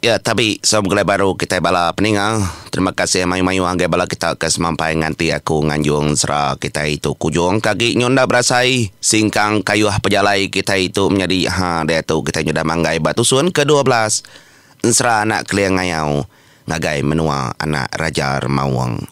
Ya tabi saw begulai baru kitai bala peninga terima kasih mayuh mayuh agai bala kita ke semampai nganti aku nganjung sera kitai tu kujung ka agi nyu enda berasai singkang kayuh pejalai kitai tu menyadi ha diatu kitai nyudah manggai ba tusun ke dua belas ensera anak keling ngayau ngagai menua anak raja remaung.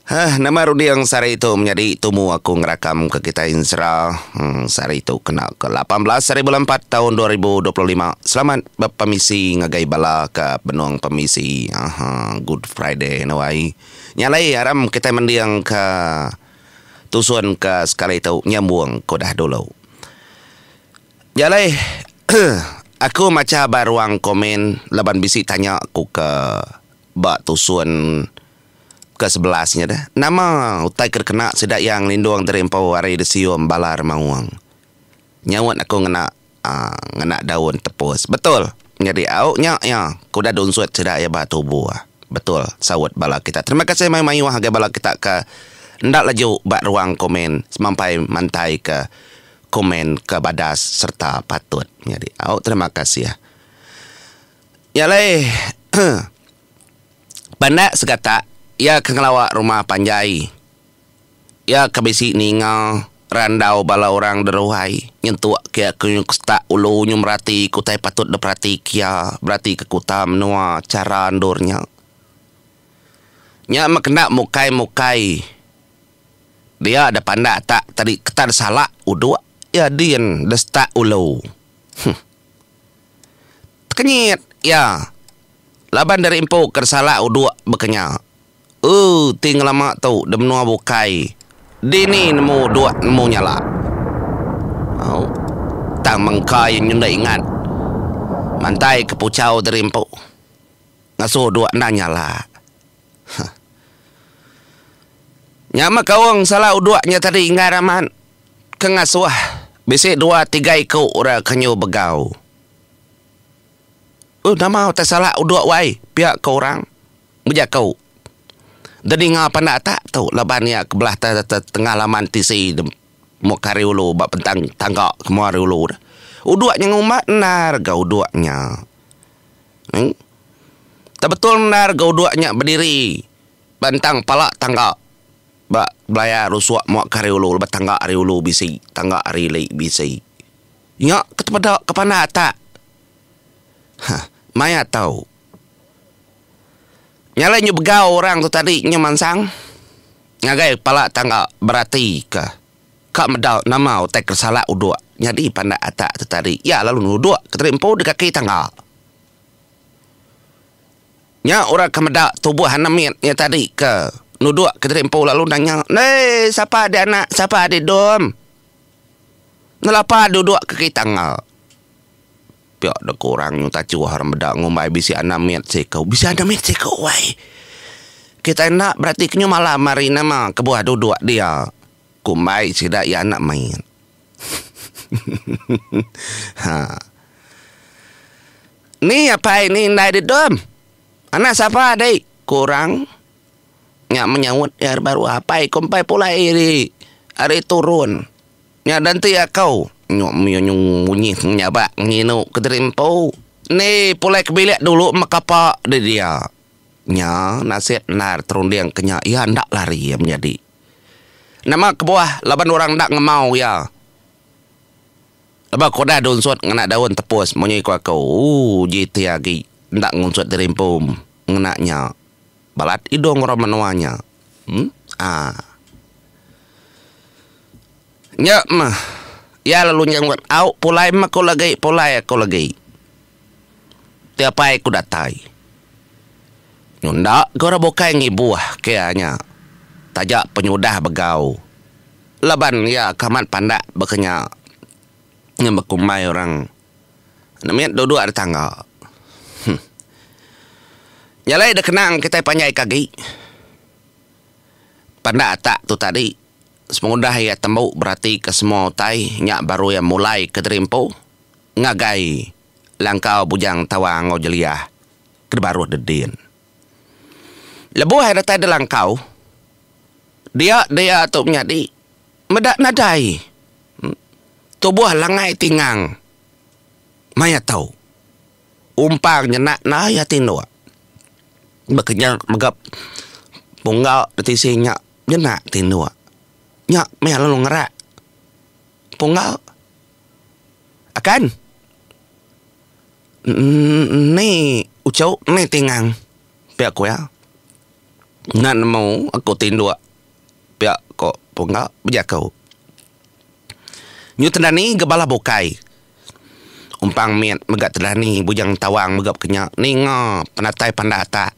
Hah, nama runding sehari tu menyadi tumu aku ngerakam ke kitai ensera. Hmm, sehari tu kena ke lapan belas hari bulan empat taun dua ribu dua puluh lima. Selamat bepemisi ngagai bala ke benung pemisi. Aha, Good Friday anu ai. Nya alai aram kitai mending ke tusun ke sekali tu nyambung ke udah dulu. Nya alai aku macha ba ruang komen laban bisi tanya ku ke Ba tusun ke sebelas nya deh, nama utai ke dikena sida iya ngelindung diri empu ari disium bala remaung? Nyaut aku ngena aaa ngena daun tepus. Betul. Nyadi au nya iya ke udah dunsut sida iya ba tubu. Betul saut bala kita. Terima kasih mayuh-mayuh ngagai bala kita ke enda laju ba ruang komen semampai mantaika komen ke badas sereta patut. Nyadi au terima kasih. Nya alai, pandak segatak iya ke ngelawa rumah panjai. Iya ke bisi ninga randau bala orang deruhai nyentuk ke iya ke setak ulu nyu merati ke utai patut diperatika iya berati ke kuta menua chara endur nya. Nya meh kena mukai-mukai dia deh pandak tak tadi ketan salak uduk iya din deh setak ulu. Huh. Tekenyit iya laban diri empu ke disalak uduk bekenya. Ooh ti ngelama tu di menua bukai dini nemu uduk nemu nyala. Tang mengka iya nyendik ingat mantai ke puchau diri empu. Ngasuh dua endang nya la. Huh. Nya meh kaung sala uduk nya tadi inggar amat ke ngasuh bisi dua tiga iku ura ke nyu begau. Uh nama utai sala uduk wai pia ke orang bejaku. Da ninga panda atak tu laban ia ke belah tengah laman tisi muka hari ulu ba bentang tangga kemua hari ulu. Uduk nya ngumbat endar ga uduk nya. Tebetul endar ga uduk nya bediri ba entang pala tangga ba belaya rusuk muak ke ari ulu lebuh tangga ari ulu bisi tangga ari ili bisi. Nya ke tepeda ke panda atak heh maya tau. Nya alai nyu begau orang tu tadi nyu mansang ngagai pala tangga beratikah. Ka meda nama utai keresalak uduk nyadi pandak atak tu tadi iya lalu nuduk ke tali empu di kaki tangga. Nya orang ke meda tubuh anak mit iya tadi ke nuduk ke tali empu lalu nanya, Eii sapa adi anak sapa adi dom nelapa duduk ke kaki tangga. Pia deka orang nyu tachuh orang meda ngumbai bisi anam mit siko. Bisi anam mit siko wai. Kitai enda berati ke nyu malam hari nama kebuah duduk dia. Kumbai sida iya anak mit. ha. Ni apai ni indai di dom. Anak sapa dei? Ku orang nya menyaut iya baru apai kumpai pulai ri ari turun. Nya dan ti akau. Nyuk menyunyung munyi menyabak nginu kediri empu. Ni pulai ke bilik dulu meh kapa di dia. Nya nasib endar terunding ke nya iya enda lari iya menyadi. Nama kebuah laban orang enda ngemau iya. Laban kuda dunsut ngena daun tepus munyi ku aku. Ooh uji ti agi enda ngunsut diri empu ngena nya. Balat idung orang menua nya. Em. Ah. Nya meh. Iya lalu nyenggut au pulai meh aku lagi pulai aku lagi. Ti apai ku datai. Nyu enda ke orang bukai ngibuh ke iya nya. Taja penyudah begau. Laban iya ke amat pandak baka nya. Ngembekumbai orang. Enda mit duduk ari tangga. Huh. Nyalai dek kenang kitai panjai ke agi. Panda atak tu tadi. Sepengudah iya tembu berati ke semua utai nya baru iya mulai ke diri empu ngagai langkau Bujang Tawang enggau Jeliah ke dibaruh dek din. Lebuh iya datai dek langkau, dia dia tu menyadi. Meda nadai. Tubuh lengai tingang maya tu. Umpang nyenak nai ati enda. Baka nya mega pungga da tisi nya nyenak ti enda. Nya meh lalu ngerak pungga. Akan emm uchu meh tingang pia ku iya. Nan nemu aku ti enda. pia ko Pungga bejaku. Nyu Tendani Gebala Bukai Umpang mit mega Tendani Bujang Tawang mega bekenya ninga penatai pandak atak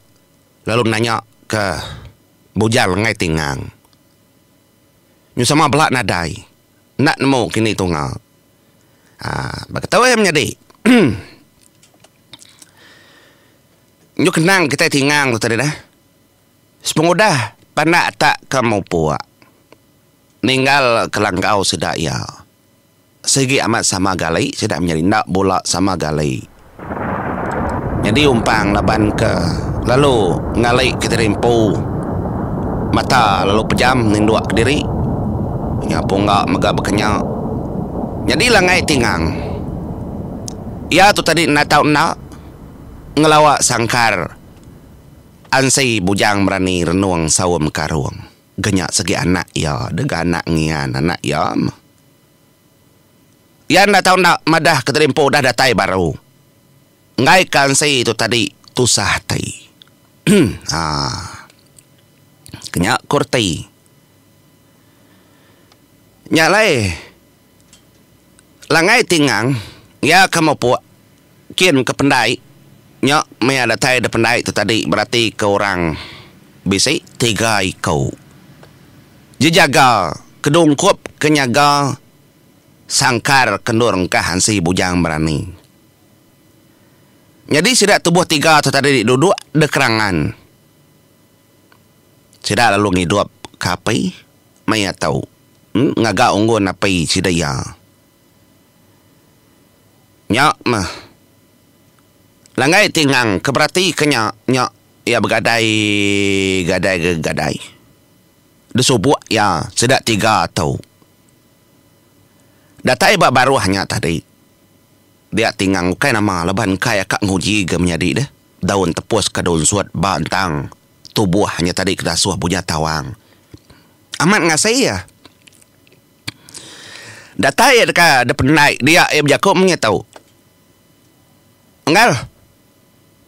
lalu nanya ke Bujang Lengai Tingang nyu sama bela nadai enda nemu kini tunga aaa baka tu iya menyadi nyu kenang kitai tingang tu tadi neh. Sepengudah pandak ta ke mupuk ninggal kelanggau sida iya sigi amat sama gali sida menyadi enda bula sama gali nyadi umpang laban ke lalu ngali kediri empu mata lalu pejam ninduk kediri nya pungga mega bekenya nyadi langgai ti ngang iya tu tadi enda tau enda ngelawa sangkar. Ansi Bujang Merani Renung Saum Karung genya segi anak iya dega anak ngian anak iya meh. Iya enda tau enda madah keterimpu udah datai baru. Enggai ke ansi tu tadi tusah ati. Haa. Kenya ku reti. Nya alai. Langgai ti ngang, iya ke mupuk, kin ke pendai, nyok mia datai da pendai tu tadi berati ke orang bisi tiga iko. Jejaga ke dungkup ke nyaga sangkar ke endur engkah ansi bujang berani. Nyadi sida tubuh tiga tu tadi duduk da kerangan. Sida lalu ngidup ke api. Maya tau. Ngaga unggun apai sida iya. Nya mah. Langgai ti ngang ke beratika nya, nya iya begadai gadai ga gadai. Desubuk iya sida tiga tu. Datai ba baruh nya tadi. Dia ti ngang ukai nama laban engkai aka nguji ga menyadi deh. Daun tepus ka daun sut ba entang tubuh nya tadi kedasuh bunya tawang. Amat ngasi iya. Datai iya deka dependai dia iya bejaku menya tu. Enggal.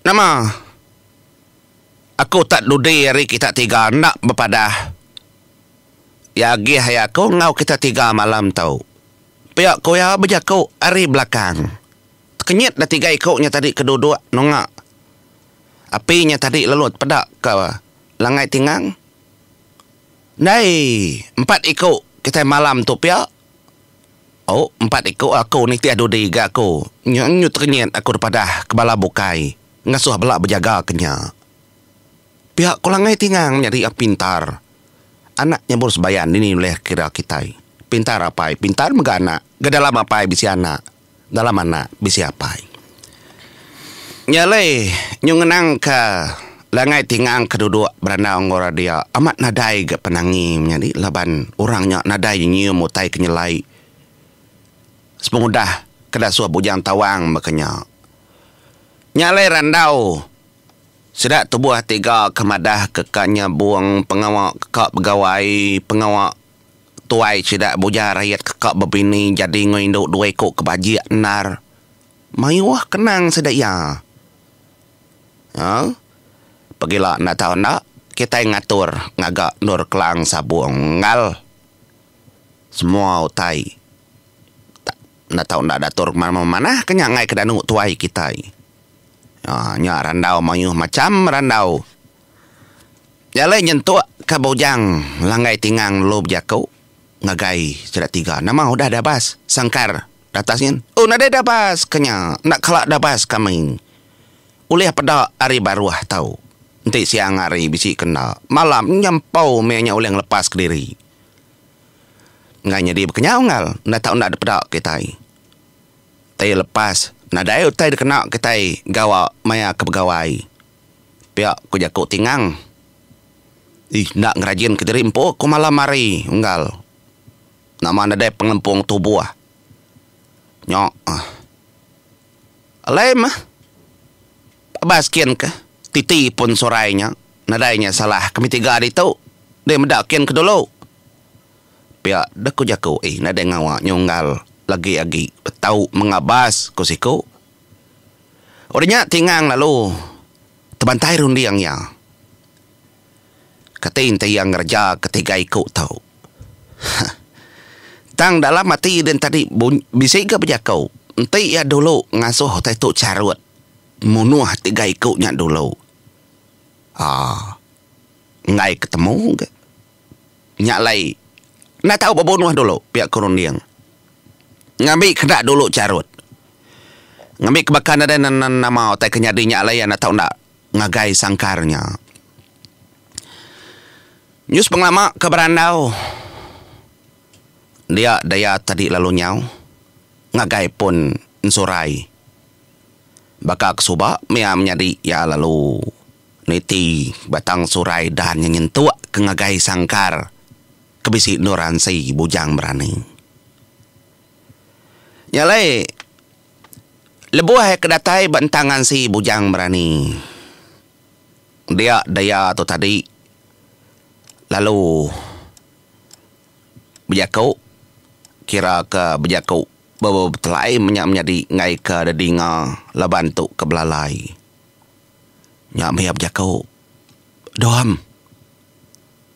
Nama aku tak dudi ari kita tiga enda bepadah. Iya agih aya aku enggau kita tiga malam tu. Pia ku iya bejaku ari belakang. Tekenyit da tiga iku nya tadi ke duduk nunga api nya tadi lalu tepeda ke langai tingang. Ndai empat iku kitai malam tu pia. O empat iku aku nitih dudi ga aku nya nyu tekenyit aku depadah ke bala bukai ngasuh bela bejaga ke nya. Pia ku langai tingang menyadi a pintar anak nyebur sebayan dini ulih kira kitai. Pintar apai pintar mega anak ga dalam apai bisi anak. Dalam anak bisi apai. Nya alai nyu ngenangka langai tingang ke duduk berandau enggau radia amat nadai ga penangi menyadi laban orang nya nadai nyium utai ke nyelai sepengudah ke dasuh bujang tawang baka nya. Nya alai randau sida tubuh tiga ke madahka ka nyabung pengawa ka begawai pengawa Tuai sida buja rayat keka bebini jadi enggau indu dua iku ke bajik endar. Mayuh kenang sida iya. Aa. Pegila enda tau enda, kitai ngatur ngaga endur Kelang Sabong Enggal. Semua utai tak enda tau enda diatur memanah ke nya ngagai ke danu tuai kitai. Aa. Nya randau mayuh macham randau. Nyalai nyentuk ka bujang langgai tingang lalu bejaku ngagai sida tiga nama udah dabas sangkar datas nyin oh nadai dabas ka nya enda kala dabas kami ulih peda ari baruh tau enti siang hari bisi ke enda malam nya empau meh nya ulih ngelepas kediri ngan nyadi bekenyau enggau enda tau enda dipeda kitai tei lepas nadai utai dikena kitai gawa maya ke begawai. Pia ku jaku Tingang. Ih enda ngerajinka diri empu ku malam hari unggal nama nadai pengelempung tubuh. Nyo ah. Alai meh. Abas kin ke titi pun surai nya nadai nya salah kami tiga ditu deh meda kin ke dulu. Pia deh ku jaku. Ih nadai ngawa nyo unggal lagi agi betau mengabas ku siku. Udah nya Tingang lalu tebantai runding iya. Kati enti iya ngereja ke tiga iku tu. Hah. Tang dalam ati iya din tadi bisi ga bejaku enti iya dulu ngasuh utai tu charut munuh tiga iku nya dulu. Aaa. Enggai ke temu ga. nya alai enda tau bebunuh dulu pia ku runding. Ngambi keda dulu charut. Ngambi ke baka nadai nama utai ke nyadi nya alai enda tau enda ngagai sangkar nya. News pengelama ke berandau dia daya tadi lalu nyau ngagai pun ensurai baka ke suba mia menyadi iya lalu. Niti batang surai dan nya nyentuk ke ngagai sangkar ke bisi endur ansi bujang berani. Nya alai lebuh ke datai ba entang ansi bujang berani dia daya tu tadi lalu bejaku kira ke bejaku betelai menya menyadi ngagai ke didinga laban tu ke belalai. Nya mih iya bejaku, Dom.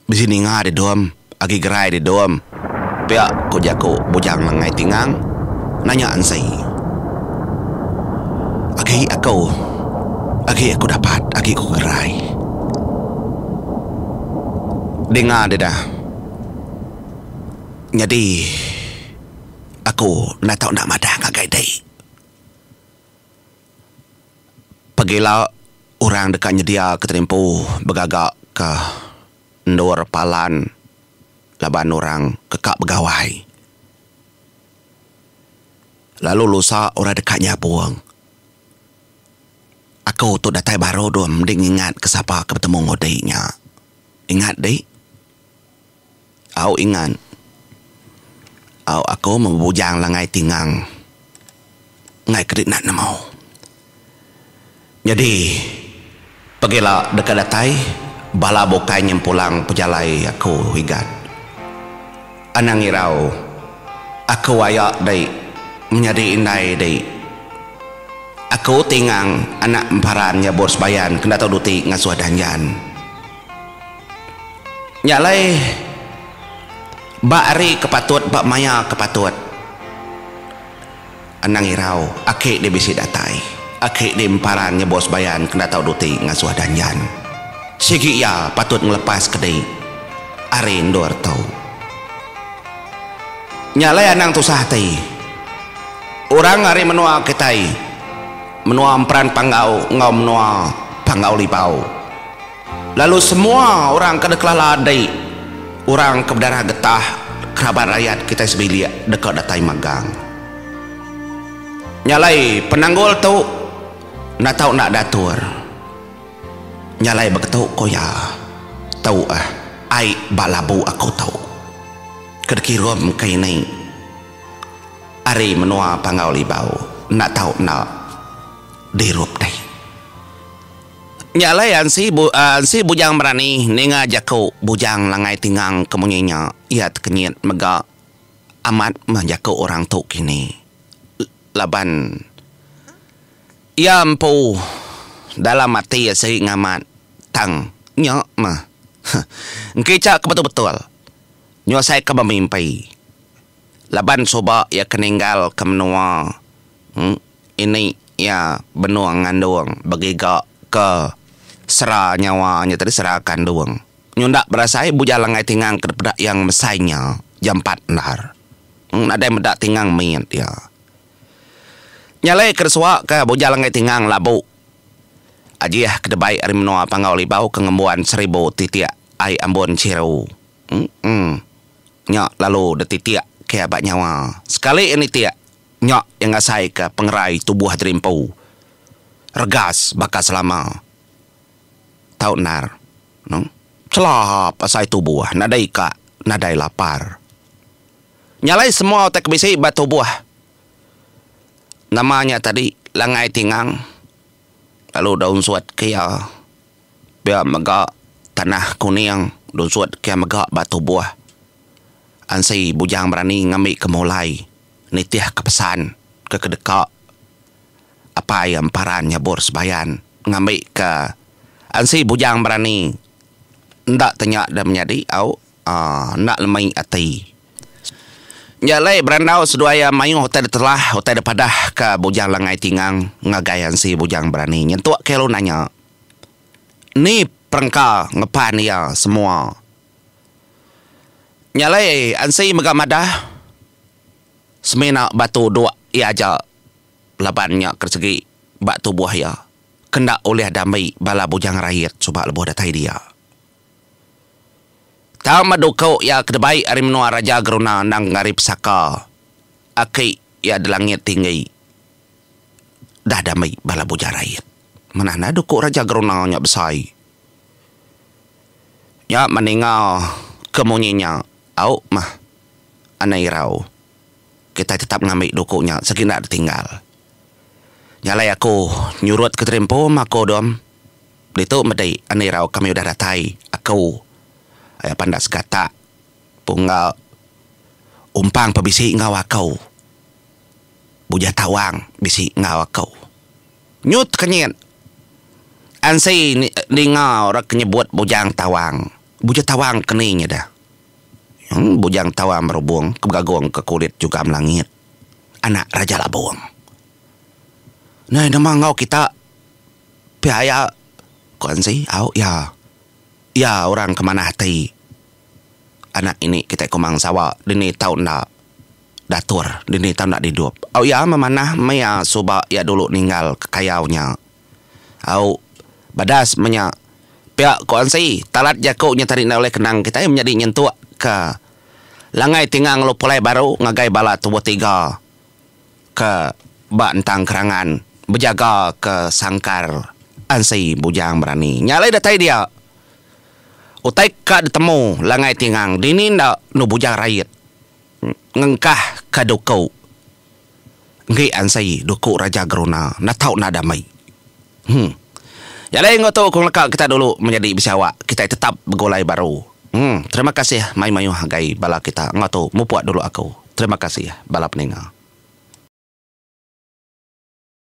Bisi ninga dih Dom, agi gerai dih Dom. Pia ku jaku Bujang Lengai Tingang nanya Ensee. Agi aku, agi aku dapat, agi aku gerai. Dinga dih dah. Nyadi aku enda tau enda madah ngagai dih. Pagila orang deka nyediaka terimpu begaga ke endur palan laban orang ke ka begawai lalu lusa orang deka nyabong. Aku tu datai baru dulu mending ingat ke sapa ke betemu ngundi nya. Ingat dih. Au ingat. Au aku meh bebujang langai tingang enggai ke dikena nemu. Nyadi pegila deka datai bala bukai nyempulang pejalai aku Igat. Anang irau aku aya dei menyadi indai dei. Aku tingang anak emparan nyabut sebayan ke Dato Duti ngasuh Danjan. Nya alai ba hari ke patut ba maya ke patut anang irau aki dia bisi datai aki dia emparan nya bos bayan kena tau duti ngasuh danjan sigi iya patut ngelepas ke dei ari endur tu nya alai anang tusah ati orang ari menua kitai menua emperan panggau enggau menua panggau libau. Lalu semua orang ke dikelala andi orang ke bedarah getah kerabat rayat kitai sebilik deka datai magang. Nya alai penanggul tu enda tau enda diatur. Nya alai begitu ko iya. Tu eh ai ba labu aku tu ke dikirum ke ini ari menua Panggau Libau enda tau enda dirup deh. Nya alai ansi ansi bujang berani ninga jaku bujang langai tingang ke munyi nya iya tekenyit mega amat meh jaku orang tu kini laban iya empu dalam ati asi ngamat tang nya meh engkica ke betul-betul nyuasai ke bemimpi laban suba iya ke ninggal ke menua. Ini iya benung ngandung begiga ke sera nyawa nya tadi sera kandung. Nyunda berasai bujal anggai tingang ke dipeda iya ngemesai nya jampat endar. Nadai meda tingang mit iya. Nyalai ke disua ke bujal anggai tingang labu ajih ke dibai ari menua Panggau Libau ke ngembuan seribu titik ai ambun chiru. Eng nya lalu dititik ke ba nyawa. Sekali iya nitik Nya iya ngasaika pengerai tubuh diri empu regas baka selama. Tau endar no. Chelap asai tubuh nadai ka nadai lapar. Nya alai semua utai ke bisi ba tubuh. Nama nya tadi langai tingang lalu da unsut ke iya pia mega tanah kuning da unsut ke iya mega ba tubuh. Ansi bujang berani ngambi ke mulai. Nitihka pesan ke kedeka Apai Emparan Nyabur Sebayan ngambika ansi bujang berani enda tanya da menyadi au enda lemai ati. Nya alai berandau seduai iya mayuh utai da telah utai da padah ke Bujang Langai Tingang ngagai ansi bujang berani nyentuk kilu nanya ni perengka ngepan iya semua. Nya alai Ansi mega madah semina batu duk iya aja laban nya ke segi ba tubuh iya ke enda ulih diambi bala bujang rayit suba lebuh datai dia. Tang madu ku iya ke dibai ari menua Raja Geruna endang ari pesaka aki iya di langit tinggi udah diambi bala bujang rayit. Manah enda duku Raja Geruna nya besai. Nya meninga ke munyi nya au meh ane irau. Kitai tetap ngambi duku nya sigi enda ditinggal. Nya alai aku nyurut ke terimpu maku dom ditu medi ane irau kami udah datai aku aya panda segatak pungga umpang pe bisi enggau aku. Bujah tawang bisi enggau aku. Nyut kenyit. Ansi ninga orang ke nyebut Bujang Tawang. Bujang Tawang ke ni nyeda? Eng, Bujang Tawang Merubong ke begagung ke kulit Jugam Langit, anak Raja Labong. Nai nemu enggau kita pia iya, ku Ansi. Au, iya. Iya orang ke manah ati anak ini kitai Komang Sawa dini tau enda. Datur, dini tau enda didup. Au iya memanah maya suba iya dulu ninggal kekayau nya. Au, badas menya. Pia ku Ansi, talat jaku nya tadi enda ulih kenang kitai menyadi nyentuk ke Langai Tinga ngelu pulai baru ngagai bala tubuh tiga ke ba entang kerangan bejaga ke sangkar Ansi Bujang Berani. Nya alai datai dia utai ka ditemu Langai Tingang dini enda enu Bujang Rait. Ngengkah ka duku enggi ansai duku raja geruna enda tau nadam ai. Hum. Nyadi enggau tu ku ngeleka kita dulu menyadi bisi awak kitai tetap begulai baru. Hum. Terima kasih mai mayuh agai bala kita enggau tu mupuk dulu aku. Terima kasih bala peninga.